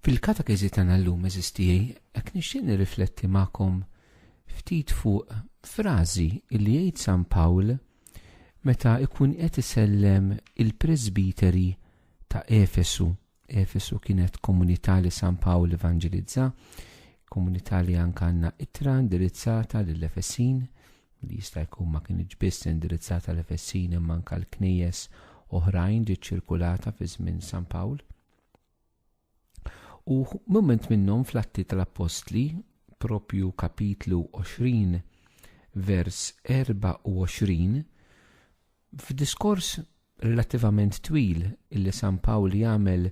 Fil-katekiżi tagħna llum eżisti hekk nixtieq nirrifletti magħkom ftit fuq frażi li jgħid San Pawl meta ikun qed isellem il-presbiteri ta' Efesu. Efesu kienet komunità li San Pawl evangelizza, komunità li anka għandna itra indirizzata lill-Efesin, li jista' jkun ma kinitx biss indirizzata l-Efessin imma anke l-knejjes oħrajn ġiet ċirkulata fi żmien San Pawl. U mument minnhom fl-atti tal-Appostli, propju kapitlu 20, vers 24, F'diskors relattivament twil li San Pawl jagħmel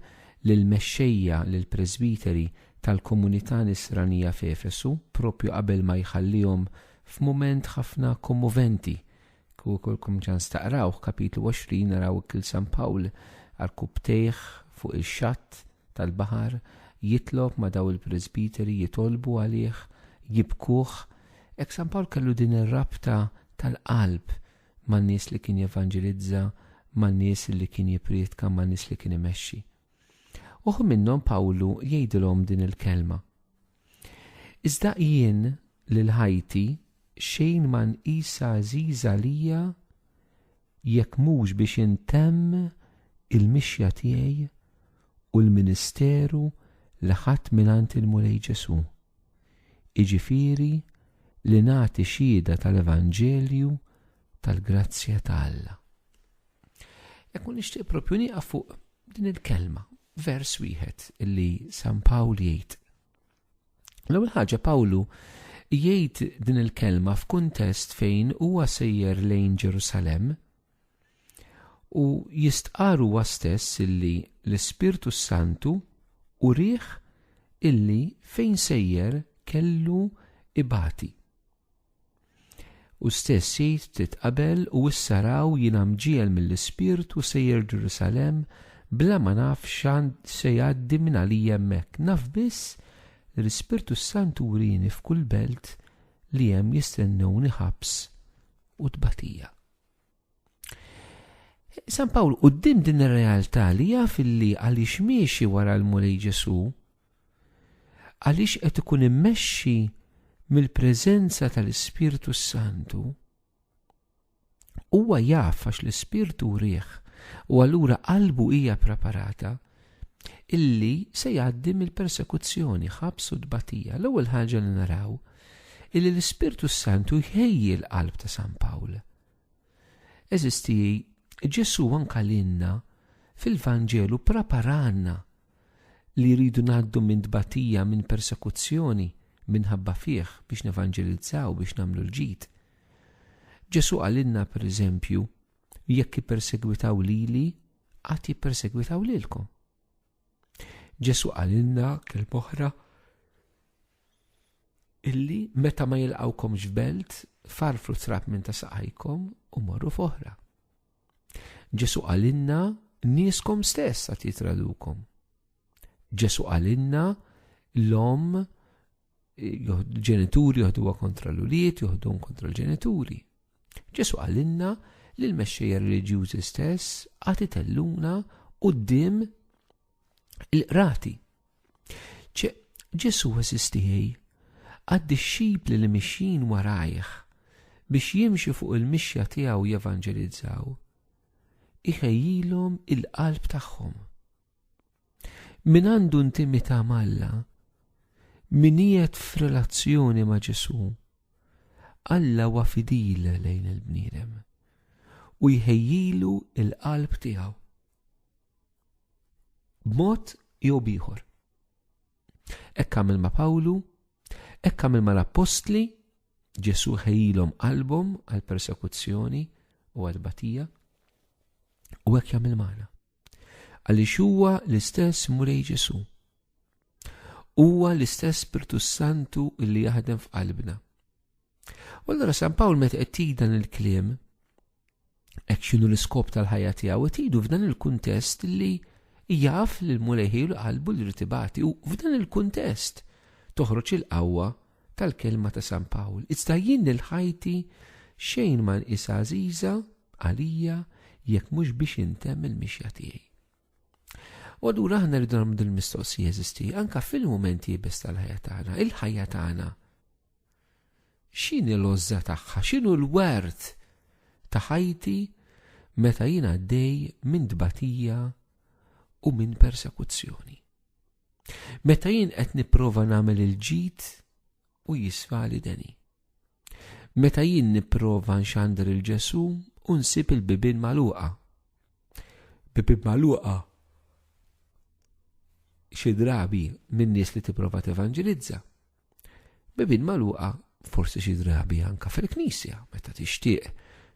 lill-mexxejja, lill-presbiteri, tal-komunità Nisranija f'Efesu, proprju qabel ma jħallihom f'mument ħafna kommoventi, kieku jkollkom ċans taqrawh, kapitlu 20, naraw hekk lil San Pawl għarkupptejh fuq ix-xatt tal-baħar, jitlob ma' dawn il-presbiteri, jitolbu għalih, jibkuh. Hekk San Pawl kellu din ir-rabta tal-qalb man-nies li kien jevanġelizza, man-nies li kien jipprietka, man-nies li kien imexxi. Uħud minnhom Pawlu jgħidilhom din il-kelma. Iżda jien lil ħajti xejn ma nqisha għażiża għalija jekk mhux biex intemm il-mixja tiegħi u l-ministeru li ħadt mingħand il-Mulej Ġesù. jiġifieri li nagħti xhieda tal-evanġelju tal-grazzja ta' Alla. Jekk u nixtieq propju nieqaf fuq din il-kelma, vers wieħed li San Pawl jgħid. L-ewwel ħaġa Pawlu jgħid din il-kelma f'kuntest fejn huwa sejjer lejn Ġerusalem, U jistqar huwa stess illi l-Ispirtu s-Santu urieh illi fejn sejjer kellu ibati. Hu stess jgħid ftit qabel, U issa raw, jiena mġiegħel mill-Ispirtu sejjer Ġerusalemm bla ma naf x'għand se jgħaddi minn għalija hemmhekk, naf biss li l-Ispirtu s-Santu wrieni f'kull belt li hemm jistennewni ħabs u tbatija. San Pawl, u din din ir-realtà li jaf li għaliex miexi wara l-Mulej Ġesu, għaliex qed ikun immexxi mill-preżenza tal-Ispirtu Santu, huwa jaf għax l-Ispirtu rieħ u allura qalbu hija preparata illi se jgħaddi mill-persekuzzjoni, ħabs u tbatija. L-ewwel ħaġa li naraw illi l-Ispirtu s-Santu jħejji l-qalb ta' San Pawl. Eżisti Ġesu anka l-inna fil-Vanġelu preparanna li jridu ngħaddu minn tbatija, minn persekuzzjoni, minħabba fih biex nevanġelizzaw, biex nagħmlu l-ġid. Ġesu għalinna per eżempju, Jekk jippersegwitaw lili, għad jippersegwitaw lilkom. Ġesu qalilna kelma oħra illi meta ma jilqawkom ġbelt farfru trab minn ta' saqajkom u morru foħra. Ġesu għalinna niskom stess għat jitradukom. Ġesu għalinna l-om ġenituri joħduha kontra l-ulied, joħduhom kontra l-ġenituri. Ġesu għalinna li l-mexxejja reliġjużi stess għati telluna qudiem il-qrati. Ġesu għasistijaj għad-dixxipli li mixjin warajħ biex jimxi fuq il-mixja tiegħu jevanġelizzaw, iħejjilhom il-qalb tagħhom. Min għandu intimità malla, min qiegħed f'relazzjoni ma' Ġesu, Alla huwa fidil lejn il-bniedem u jħejjilu il-qalb tiegħu. B'mod jew bieħor. Ekk għamil ma' Pawlu, ekk għamil ma' l-appostli, Ġesu ħejjilhom qalbhom għal persekuzzjoni u għal batija, u hekk jagħmel magħna. Għaliex huwa l-istess Mulej Ġesu. Huwa l-istess Spirtu Santu li jaħdem f'qalbna. U allura San Pawl meta qed tgħid dan il-kliem hekk x'inhu l-iskop tal-ħajja tiegħu qed jgħidu f'dan il-kuntest li jaf li l-Mulej ħielu qalbu li rtibati u f'dan il-kuntest toħroġ il-qawwa tal-kelma ta' San Pawl, iżda jien lil ħajti xejn ma nqisha għażiża għalija jekk mhux biex intemm il-mixja tiegħi. U allura aħna rridu nagħmlu din mistoqsija jeżisti anke fil-mumenti jibes tal-ħajja tagħna, il-ħajja tagħna. X'inhi l-ożża tagħha, x'inhu l-wert ta' ħajti meta jien għaddej minn tbatija u minn persekuzzjoni. Meta jien qed nipprova nagħmel il-ġid u jisfali deni. Meta jien nipprova nxandar il-Ġesu u nsib il-bibin maluqa. Bibin maluqa xi drabi minn nies li tipprova tevanġelizza. Bibin magħluqa forsi xi drabi anka fil-knisja meta tixtieq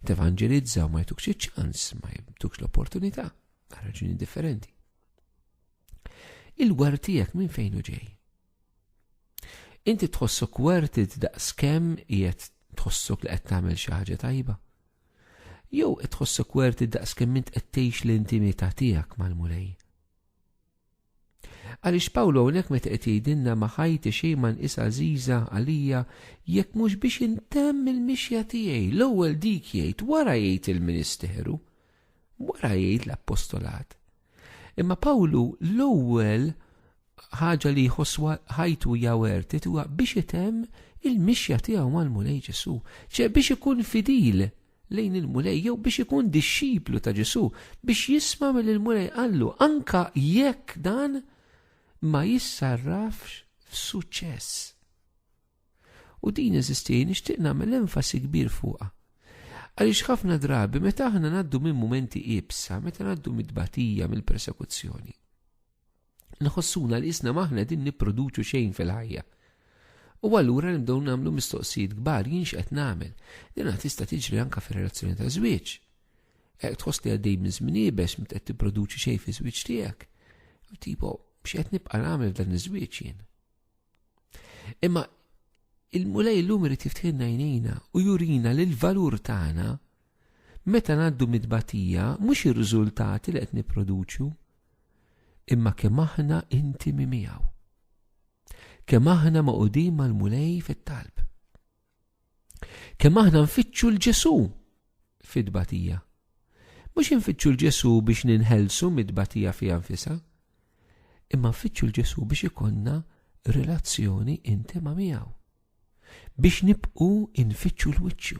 tevanġelizza u ma jtukx iċ-ċans, ma jtukx l-opportunità, għal raġuni differenti. Il-war tiegħek minn fejn u ġej. Inti tħossok wertit daqs kemm qiegħed tħossok li qed tagħmel xi ħaġa tajba. Jew qed tħossok wertit daqs kemm int qed tgħix l-intimità tiegħek mal-Mulej. Għaliex Pawlu hawnhekk meta qed jgħidilna ma' ħajti xejn ma nqisha għażiża għalija jekk mhux biex intemm il-mixja tiegħi, l-ewwel dik jgħid, wara jgħid il-ministeru, wara jgħid l-appostolat. Imma Pawlu l-ewwel ħaġa li jħosswa ħajtu jawert huwa biex itemm il-mixja tiegħu mal-Mulej Ġesu, ċe biex ikun fidil lejn il-Mulej jew biex ikun dixxiplu ta' Ġesu, biex jisma' mill il-Mulej qallu anka jekk dan ma jissarrafx f'suċċess. U din eżisti nixtieq nagħmel enfasi kbir fuqha. Għaliex ħafna drabi meta aħna ngħaddu minn mumenti ibsa, meta ngħaddu mid-batija, mill-persekuzzjoni. nħossuna li jisna maħna din nipproduċu xejn fil-ħajja. U allura nibdew nagħmlu mistoqsijiet kbar jien x'qed nagħmel. Din tista' tiġri anke fir-relazzjoni ta' żwieġ. Hekk tħoss li għaddej minn żmien ibex meta qed tipproduċi xejn fi żwieġ tiegħek. Tipo, x'qed nibqa' nagħmel f'dan iż-żwieġ jien. Imma il-mulej l-lum irid jiftħinna jnejna u jurina li l-valur tagħna Meta ngħaddu mit-tbatija mhux ir-riżultati li qed nipproduċu, imma kemm aħna intimi miegħu. Kemm aħna magħqudin mal-Mulej fit-talb. Kemm aħna nfittxu l-Ġesu fit-tbatija. Mhux infittxu l-Ġesu biex ninħelsu mit-tbatija fiha nfisha, imma nfittxu l-Ġesu biex ikonna relazzjoni intima miegħu. Biex nibqu infittxu l-wiċċu.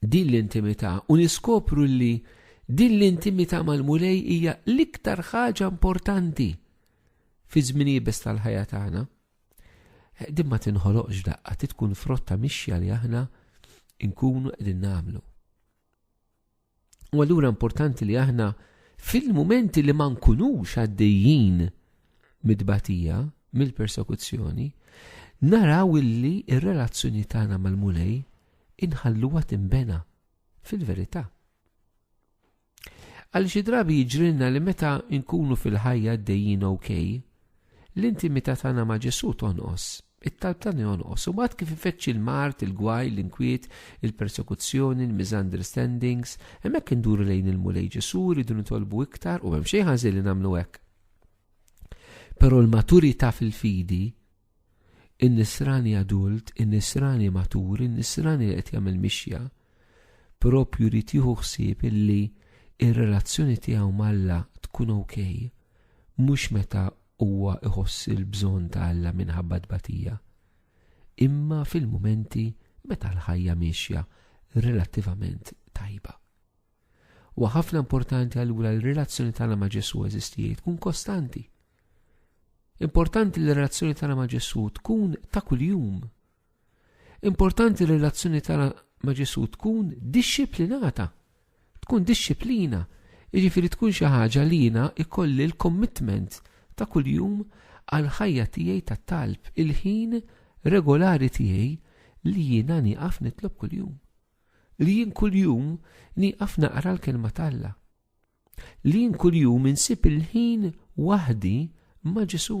din l-intimità u niskopru li din l-intimità mal-Mulej hija l-iktar ħaġa importanti fi żminijiet tal-ħajja tagħna. Din ma tinħoloqx daqqa, titkun frotta mixja li aħna nkunu qegħdin nagħmlu. U allura importanti li aħna fil-mumenti li ma nkunux għaddejjin mid-batija, mill-persekuzzjoni, naraw illi il relazzjoni tagħna mal-Mulej inħalluha timbena fil-verità. Għal xi drabi jiġrilna li meta nkunu fil-ħajja għaddejjin ok, l-intimità tagħna ma' Ġesu tonqos It-talb ta' jonqos, u mbagħad kif ifeċċi l-mard, il-gwaj, l-inkwiet, il-persekuzzjoni, l-misunderstandings, hemmhekk induru lejn il-Mulej Ġesu rridu nitolbu iktar u m'hemm xejn ħażin li nagħmlu hekk. Però l-maturità fil-fidi in-nisrani adult, in-nisrani matur, in-nisrani li qed jagħmel mixja, propju li tieħu ħsieb illi ir-relazzjoni tiegħu malla tkun ok, mhux meta Huwa iħoss il-bżonn ta' Alla minħabba tbatija, imma fil-mumenti meta l-ħajja miexja relattivament tajba. Huwa ħafna importanti allura l-relazzjoni tagħna ma' Ġesù eżisti li tkun kostanti. Importanti li r-relazzjoni tagħna ma' Ġesù tkun ta' kuljum Importanti li r-relazzjoni tagħna ma' Ġesù tkun dixxiplinata. Tkun dixxiplina, jiġifieri tkun xi ħaġa li jiena ikolli l-commitment ta' kuljum għal ħajja tiegħi ta' talb, il-ħin regolari tiegħi li jiena nieqaf nitlob kuljum. Li jien kuljum nieqaf naqra l-kelma t'Alla. Li jien kuljum insib il-ħin waħdi ma' Ġesù.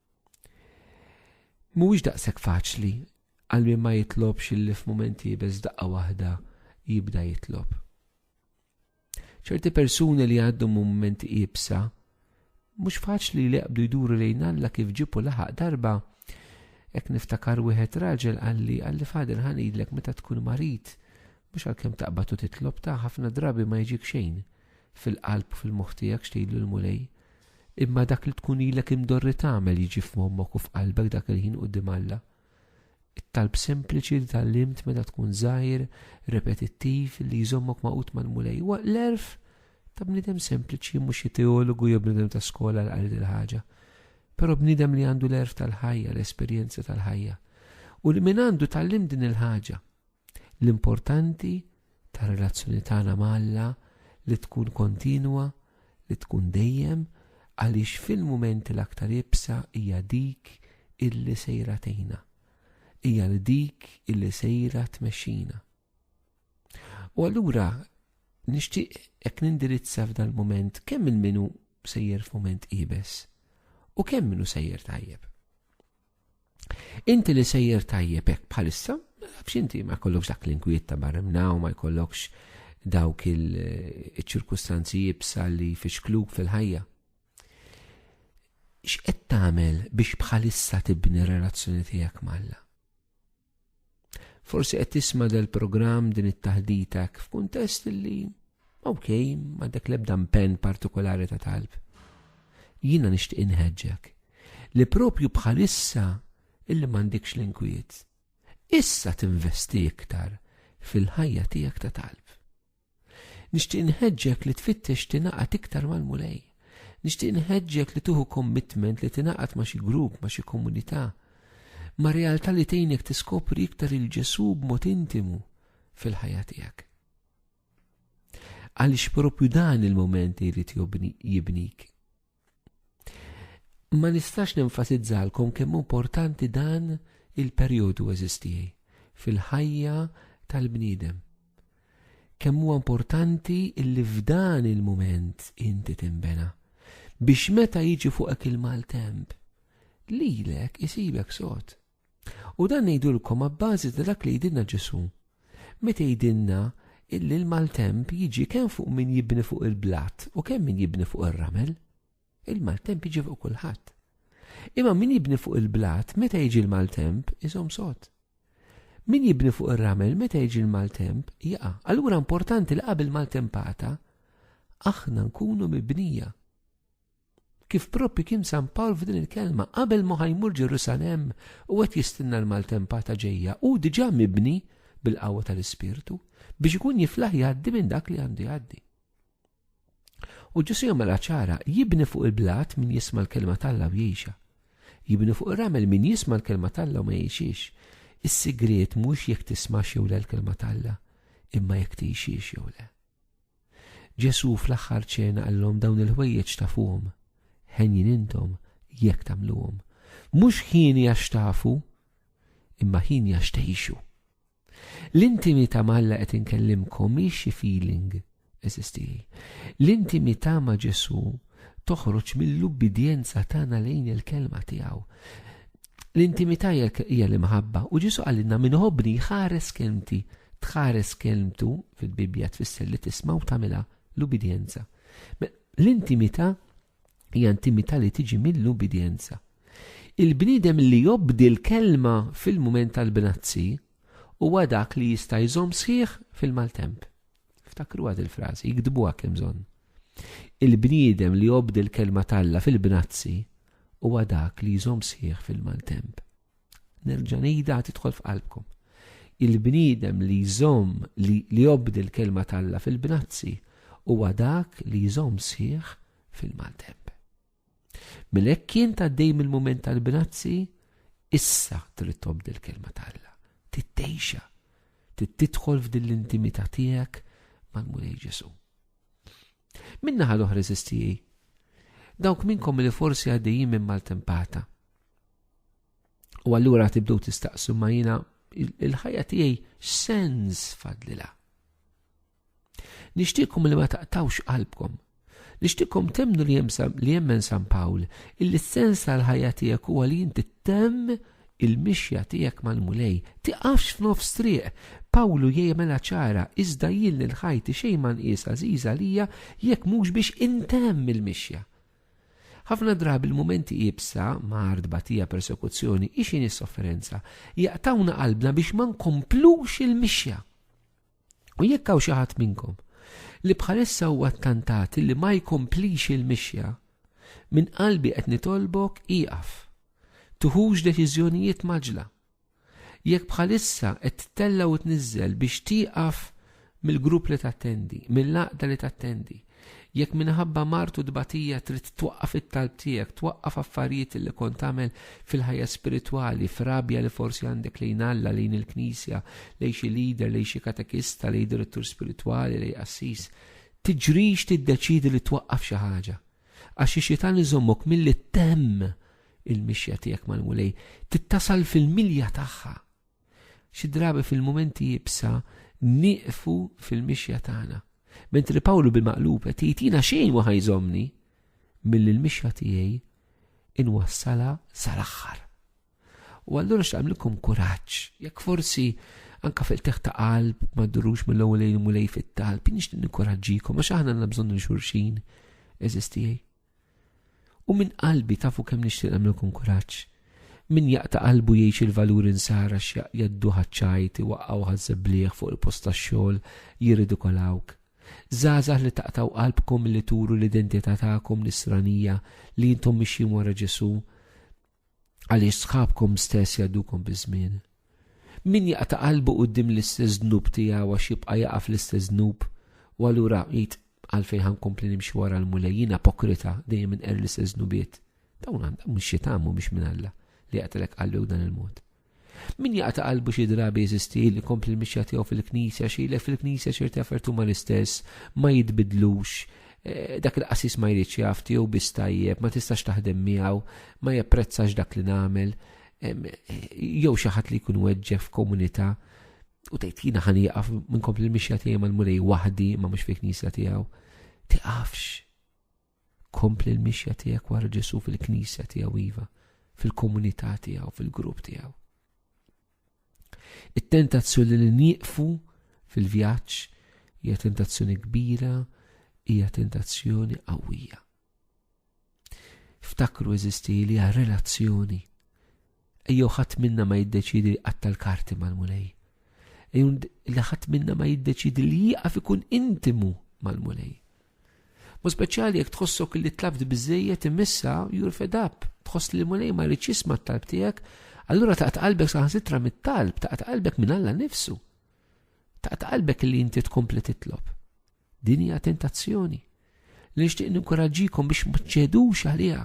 Mhuwiex daqshekk faċli għal min ma jitlobx illi f'mumenti bez daqqa waħda jibda jitlob. ċerti persuni li għaddu mumenti ibsa, mhux faċli li jaqbdu jduru lejn Alla kif ġipu laħaq darba, ek niftakar wieħed raġel għalli għalli fader ħanidlek meta tkun marit, mhux għalkemm taqbad u titlob ta' ħafna drabi ma jġik xejn, fil-qalb u fil-moħħ tiegħek x'tgħid lill-Mulej, imma dak li tkun ilek imdorri tagħmel jiġi f'moħħok u f'qalbek dak il-ħin quddiem Alla. It-talb sempliċi li tallimt meta tkun żgħir, repetittiv li jżommok maqut mal-Mulej huwa l-erf ta' bniedem sempliċi mhux xi teologu jew bniedem ta' skola l qalid il-ħaġa. Però bniedem li għandu l-erf tal-ħajja, l-esperjenza tal-ħajja. U li min għandu tallim din il-ħaġa, L-importanti tar-relazzjoni tagħna ma' Alla li tkun kontinwa, li tkun dejjem, għaliex fil-mumenti l-aktar iebsa hija dik illi sejra tgħinna. Hija li dik illi sejra tmexxina. U allura nixtieq hekk nindirizza f'dal mument kemm il-minu sejjer f'mument ibes u kemm minu sejjer tajjeb. Inti li sejjer tajjeb hekk bħalissa, nafx inti ma jkollokx dak l-inkwiet ta' barrimnaw, ma jkollokx dawk il-ċirkustanzi jibsa li fixkluk fil-ħajja. X'qed tagħmel biex bħalissa tibni relazzjoni tiegħek malla? Forsi qed tisma' dal-programm din it-taħdita f'kuntest li ok, ma dak l-ebda mpenn partikolari ta' talb. Jiena nixtieq inħeġġek li propju bħalissa illi m'għandikx l-inkwiet. Issa tinvesti iktar fil-ħajja tiegħek ta' talb. Nixtieq nħeġġek li tfittex tingħaqad iktar mal-Mulej. Nixtieq nħeġġek li tuħu commitment li tingħaqad ma' xi grupp, ma' xi komunità, ma' realtà li tgħinek tiskopri iktar il-Ġesu b'mod intimu fil-ħajja tiegħek. Għaliex propju dan il-moment li jrid jibnik Ma nistax nenfasizzalkom kemm importanti dan il-perjodu eżistijaj fil-ħajja tal-bniedem. Kemm huwa importanti illi f'dan il-mument inti timbena biex meta jiġi fuqek il-maltemp lilek isibek sod. U dan ngħidulkom abbażi ta' dak li jidinna Ġesu. Meta jidinna illi l-maltemp jiġi kemm fuq min jibni fuq il-blat u kemm min jibni fuq ir-ramel. Il-maltemp jiġi fuq kulħadd. Imma min jibni fuq il-blat meta jiġi l-maltemp iżom sod. Min jibni fuq ir-ramel meta jiġi l-maltemp jaqa'. Allura importanti li qabel maltempata aħna nkunu mibnija. Kif propju kien San Pawl f'din il-kelma, qabel ma ħajmur Ġerusalem u qed jistinna l-maltempata ġejja, u diġà mibni bil-qawwa tal-Ispirtu biex ikun jiflaħ jgħaddi minn dak li għandu jgħaddi. U Ġesu jagħmilha ċara jibni fuq il-blat min jisma' l-kelma tal-law jgħixha. Jibni fuq ir-ramel min jisma' l-kelma tal-law ma jgħixiex. Is-sigriet mhux jekk tisma' jew l-kelma tal-la, imma jekk tgħixiex jew le. Ġesù fl-aħħar ċena qallhom dawn il-ħwejjeġ tafuhom. Henjin intom jekk tagħmluhom. Mhux ħieni għax tafu, imma ħieni għax tgħixu. L-intimità ma' Alla qed inkellimkom hi xi feeling, eżisti. L-intimità ma' Ġesù toħroġ mill-ubbidjenza tagħna lejn il-kelma tiegħu. L-intimità jekk hija l-imħabba, u Ġesù qalilna min iħobbni jħares kelmti. Tħares kelmtu fil-Bibbja tfisser li tisma' u tagħmilha l-ubidjenza. L-intimità hija intimità li tiġi mill-ubidjenza. Il-bniedem li jobdi l-kelma fil-mument tal-bnazzi huwa dak li jista' jżomm sħiħ fil-maltemp. Ftakruha dil frażi, iktbuha kemm bżonn. Il-bniedem li jobdi l-kelma talla fil-bnazzi huwa dak li jżomm sħiħ fil-maltemp. Nerġa' ngħidha tidħol f'qalbkom. Il-bniedem li jżomm li jobdi l-kelma talla fil-bnazzi huwa dak li jżomm sħiħ fil-maltemp. Mela hekk kien tgħaddej mill-mument tal-grazzi, issa trid tobdi l-kelma t'Alla, tittejxa, tidħol f'din l-intimità tiegħek mal-Mulej Ġesu. Minna ħal oħra eżistijie, dawk minnkom li forsi għaddejjin minn maltempata. U allura tibdu tistaqsu ma jina il-ħajja tiegħi sens fadlila. Nixtieqkom li ma taqtawx qalbkom. Nixtieqkom temnu li jemmen San Pawl illi s-sens tal-ħajja tiegħek huwa li inti temm il-mixja tiegħek mal-Mulej. Tiqafx f'nofs triq. Pawlu jgħimela ċara, iżda jien lil ħajti xejn ma nqis għażiża għalija jekk mhux biex intemm il-mixja. Ħafna drabi l-mumenti ibsa, mard, batija, persekuzzjoni, ixin is-sofferenza, jaqtawna qalbna biex ma nkomplux il-mixja. U jekk hawn xi ħadd minnkom li bħalissa huwa ttantat li ma jkomplix il-mixja, minn qalbi qed nitolbok ieqaf. Tuħux deċiżjonijiet maġla. Jekk bħalissa qed tella u tniżżel biex tieqaf mill-grupp li tattendi, mill-laqda li tattendi, Jekk minħabba mard u tbatija trid twaqqaf it-talb tiegħek, twaqqaf affarijiet li kont tagħmel fil-ħajja spiritwali, f'rabja li forsi għandek lejn Alla, lejn il-Knisja, lejn xi leader, lejn xi katekista, lejn direttur spiritwali, lejn qassis, tiġrix tiddeċiedi li twaqqaf xi ħaġa. Għax ix-xitan iżommok milli ttemm il-mixja tiegħek mal-Mulej, tittasal fil-milja tagħha. Xi drabi fil-mumenti jibsa nieqfu fil-mixja tagħna. Mentri Pawlu bil-maqlub qed jgħid jiena xejn ma ħajżomni milli l-mixja tiegħi inwassala sal-aħħar. U allura x'tagħmlikom kuraġġ, jekk forsi anka fil teħ ta' qalb ma ddurux mill-ewwel lejn mulej fit-talb, nixtieq nikkoraġġikom għax aħna għandna bżonn xulxin eżistijaj. U minn qalbi tafu kemm nixtieq nagħmlilkom kuraġġ. Min jaqta' qalbu jgħix il-valuri nsara x'jaq jgħaddu ħaċ-ċajt, iwaqqgħu ħaż-żebblieħ fuq il-post tax-xogħol, jirridikolawk. Żgħażagħ li taqtgħu qalbkom milli turu l-identità tagħkom nisranija li intom mixjin wara Ġesù, Għaliex sħabkom stess jgħaddukom biż-żmien. Min jaqta' qalbu quddiem l-istess dnub tiegħu għax jibqa' jaqa' fl-istess dnub u allura jgħid għalfejn ħa nkompli nimxi wara l-Mulej jien apokrita dejjem inqer l-istess dnubiet. Dawn għandhom mhux xi tagħmu biex minn Alla li jaqtilek qalbek b'dan il-mod. Min jaqta' qalbu xi drabi jeżisti li jkompli l-mixja tiegħu fil-Knisja għax jgħidlek fil-Knisja ċerti affarijiet huma l-istess, ma jitbidlux, dak il-qassis ma jridx jaf, tiegħu biss tajjeb, ma tistax taħdem miegħu, ma japprezzax dak li nagħmel, jew xi ħadd li jkun weġġeħ f'komunità u tgħid jiena ħan jaqaf minn kompli l-mixja tiegħi mal-mulej waħdi ma mhux fil-knisja tiegħu. Tiqafx. Kompli l-mixja tiegħek wara Ġesù fil-Knisja tiegħu iva, fil-komunità tiegħu, fil-grupp tiegħu. It-tentazzjoni li nieqfu fil-vjaġġ hija tentazzjoni kbira, hija tentazzjoni qawwija. Ftakru eżisti li hija relazzjoni Ejjew ħadd minna ma jiddeċiedi li jqatta' l-karti mal-Mulej. Ejjew li ħadd minna ma jiddeċiedi li jieqaf ikun intimu mal-Mulej. Mu speċjali jekk tħossok li tlabt biżejjed imissa jur fed up, tħoss li l-Mulej ma jridx jisma' t-talb tiegħek, allura taqta' qalbek saħansitra mit-talb, taqta' qalbek minn Alla nifsu. Taqta' qalbek li inti tkompli titlob. Din hija tentazzjoni li nixtieq ninkuraġġikom biex ma ċedux għaliha.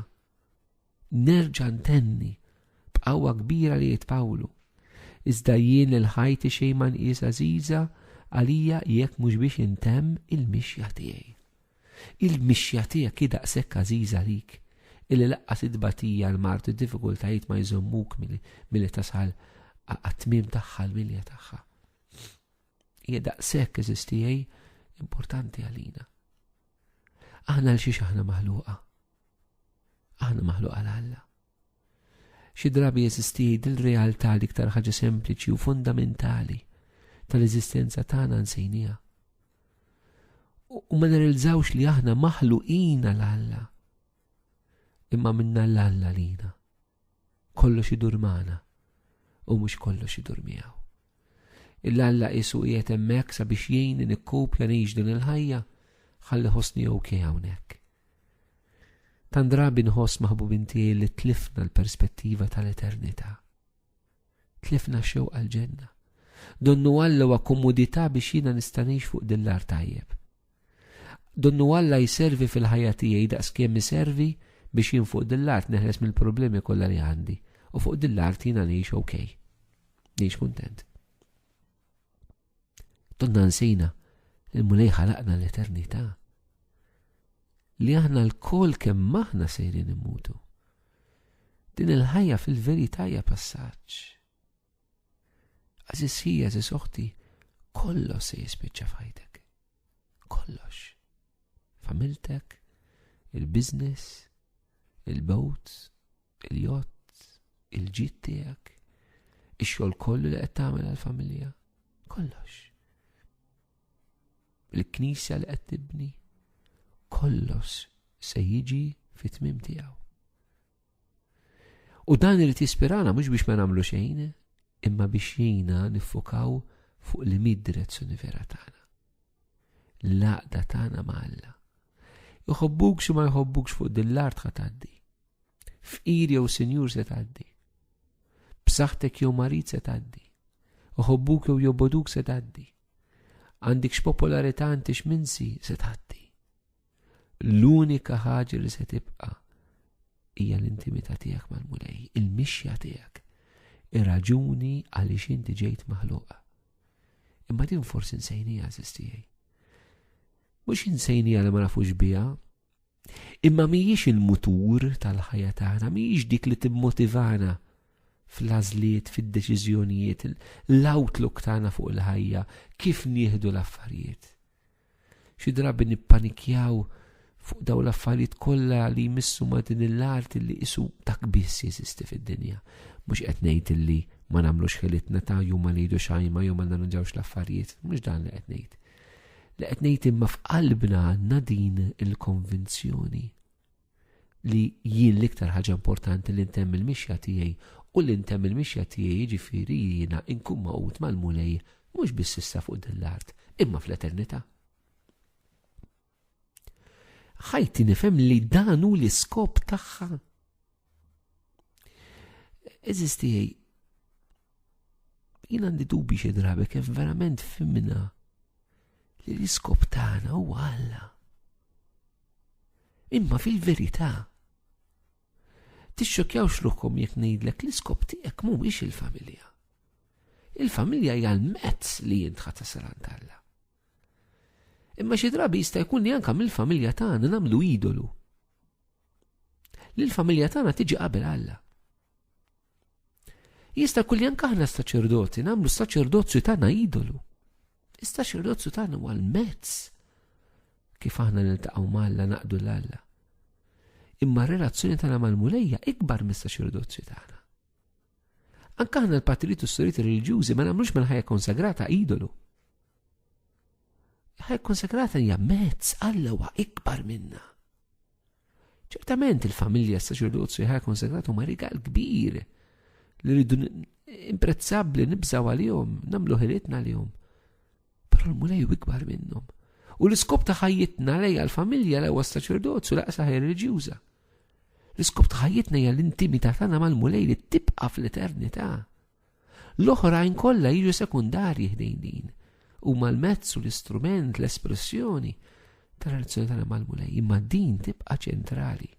Nerġa' ntenni, b'qawwa kbira li jgħid Pawlu, Iżda jien lil ħajti xejn ma nqis għażiża għalija jekk mhux biex intemm il-mixja tiegħi. Il-mixja tiegħek hi daqshekk għażiża għalik illi laqqas it-tbatija, l-mard u d-diffikultajiet ma jżommuk milli tasal għat-tmiem tagħha l-milja tagħha. Hija daqshekk eżiż tiegħi importanti għalina. Aħna l xiex aħna maħluqa. Aħna maħluq għal Alla. Xi drabi jeżisti dil-realtà li iktar ħaġa sempliċi u fundamentali tal-eżistenza tagħna nsejnija. U ma nirrilżawx li aħna maħluqina l-Alla. Imma minna l-Alla lina. Kollox idur magħna u mhux kollox idur miegħu. Il-Alla qisu qiegħed hemmhekk sabiex jgħinni nikkopja ngħix din il-ħajja ħalli ħossni ok hawnhekk. Tan drabi nħoss maħbubin tiegħi li tlifna l-perspettiva tal-eternità. Tlifna xew għal-ġenna. Donnu Alla wa komodità biex jiena nistanix fuq din l-ar tajjeb. Donnu Alla jservi fil-ħajja tiegħi daqs kemm iservi biex jien fuq din l-art neħles mill-problemi kollha li għandi u fuq din l-art jiena ngħix ok. Ngħix kuntent. Donna nsejna li mulej ħalaqna l-eternità li aħna l-kol kemm maħna sejrin immutu. Din il-ħajja fil-veritajja passaċ. Aziz ħija, aziz oħti, kollox se jispiċċa f'ħajtek. Kollox. Familtek, il-biznis, il-bowt, il-jott, il-ġit tiegħek, ix-xogħol kollu li qed tagħmel għall-familja. Kollox. Il-knisja li qed tibni. Kollox se jiġi fit-tmim tiegħu. U dan irid jispirana mhux biex ma nagħmlu xejn, imma biex jina niffokaw fuq li mid direzzjoni vera tagħna. L-għaqda tagħna ma' Alla. Iħobbuk xi ma jħobbukx fuq din l-art ħa tgħaddi. Fqir jew sinjur se tgħaddi. B'saħħtek jew marid se tgħaddi. Iħobbuk jew joboduk se tgħaddi. Għandikx popolarità għandix minsi se tgħaddi. L-unika ħaġa li se tibqa' hija l-intimità tiegħek mal-Mulej, il-mixja tiegħek, ir-raġuni għaliex inti ġejt maħluqa. Imma din forsi nsejnija żistijaj. Mhux insejnija li ma nafux biha, imma mhijiex il-mutur tal-ħajja tagħna, mhijiex dik li timmotivana fl-għażliet, fid-deċiżjonijiet, l-outlook tagħna fuq il-ħajja, kif nieħdu l-affarijiet. Xi drabi nippanikjaw fuq daw l-affarijiet kollha li jmissu ma' din l-art li isu dak biss jeżisti fid-dinja. Mhux qed ngħid illi ma nagħmlux ħilitna ta' jew ma ngħidu xajma jew ma narranġawx l-affarijiet, mhux dan li qed ngħid. Li qed ngħid imma f'qalbna għandna din il-konvinzjoni. li jien l-iktar ħaġa importanti li ntemm il-mixja tiegħi u li ntemm il-mixja tiegħi jiġifieri jiena nkun maqud mal-Mulej mhux biss issa fuq din l-art, imma fl-eternità. Ħajti nifhem li dan hu l-iskop tagħha. Eżis tiegħi jien għandi dubi xi drabi kif verament fimna li l-iskop tagħna huwa Alla. Imma fil-verità, tixxokjawx ruħkom jekk ngħidlek l-iskop tiegħek mhuwiex il-familja. Il-familja hija l-mezz li jint ħadd tasal għand Alla. Imma xi drabi jista' jkun li anke mill-familja tagħna nagħmlu idolu. Lill-familja tagħna tiġi qabel Alla. Jista' jkun li anke aħna saċerdoti nagħmlu s-saċerdozju tagħna idolu. Iżda xirrozzu tagħna huwa l-mezz kif aħna niltaqgħu malla naqdu l-Alla. Imma r-relazzjoni tagħna mal-mulejja ikbar mista xirdozzju tagħna. Anka aħna l-patrijiet u s-soriet reliġjużi ma nagħmlux mill-ħajja konsagrata idolu. Ħajja konsagrata hija mezz Alla huwa ikbar minna. Ċertament il-familja s-saċerdozju ħaj konsegratu ma rigal kbir li rridu imprezzabli nibżaw għal-jom, namlu ħilitna għal-jom. Pero l-mulej u ikbar minnom. U l-iskop ta' ħajjitna lej għal-familja l-ewa s-saċerdozju laqsa ħaj reġjuza. L-iskop ta' ħajjitna hija l-intimità tagħna mal-mulej li tibqa' fl-eternità. L-oħrajn kollha jiġu sekundarji ħdejn din. Huma l-mezz u l-istrument, l-espressjoni tal-relazzjoni tagħna mal-Mulej, imma din tibqa' ċentrali.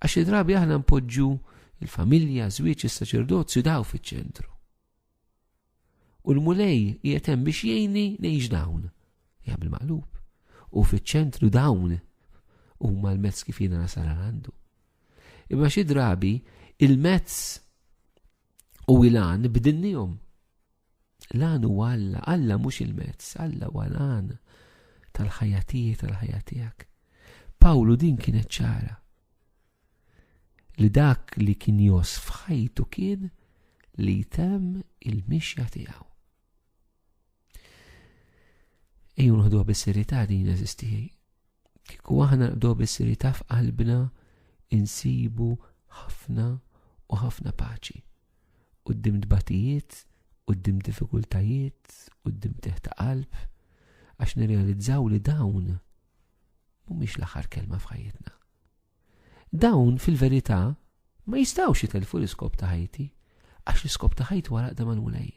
Għax drabi aħna npoġġu il-familja, żwieġ, is-saċerdozju daw fiċ-ċentru. U l-Mulej qiegħed hemm biex jgħinni ngħix dawn. Ja bil-maqlub. U fiċ-ċentru dawn huma l-mezz kif jiena nasal għandu. Imma xi drabi il-mezz u il-għan b'dinnihom. L-għan u Alla, Alla mhux il-mezz, Alla u l-għan tal-ħajja tiegħi tal-ħajja tiegħek. Pawlu din kienet ċara. li dak li kien jos f'ħajtu kien li jtem il-mixja tiegħu. Ejju nħdu bis-serjetà din eżisti. Kieku aħna nħdu bis-serjetà f'qalbna insibu ħafna u ħafna paċi. Uddim dbatijiet, uddim diffikultajiet, uddim teħta qalb, għax nirrealizzaw li dawn mhumiex l-aħħar kelma f'ħajjitna. Dawn, fil-verità, ma jistgħux jitellfu l-iskop ta' ħajti, għax l-iskop ta' ħajti huwa l-għaqda mal-Mulej.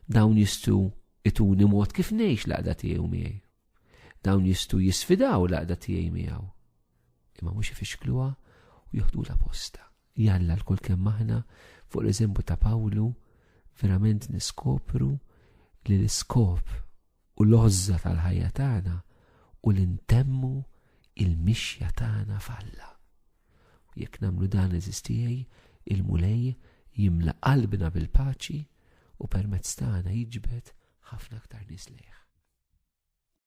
Dawn jistgħu ituni mod kif ngħix l-għaqda tiegħu miegħi. Dawn jistgħu jisfidaw l-għaqda tiegħi miegħu. Imma mhux ifixkluha u joħdu la posta. Jalla l-kull kemm aħna fuq l-eżempju ta' Pawlu verament niskopru li l-iskop u l-għożża tal-ħajja tagħna u li ntemmu il-mixja tagħna f'Alla. Jekk nagħmlu dan eżistijej, il-Mulej jimla qalbna bil-paċi u permezz tagħna jiġbed ħafna aktar nies lejh.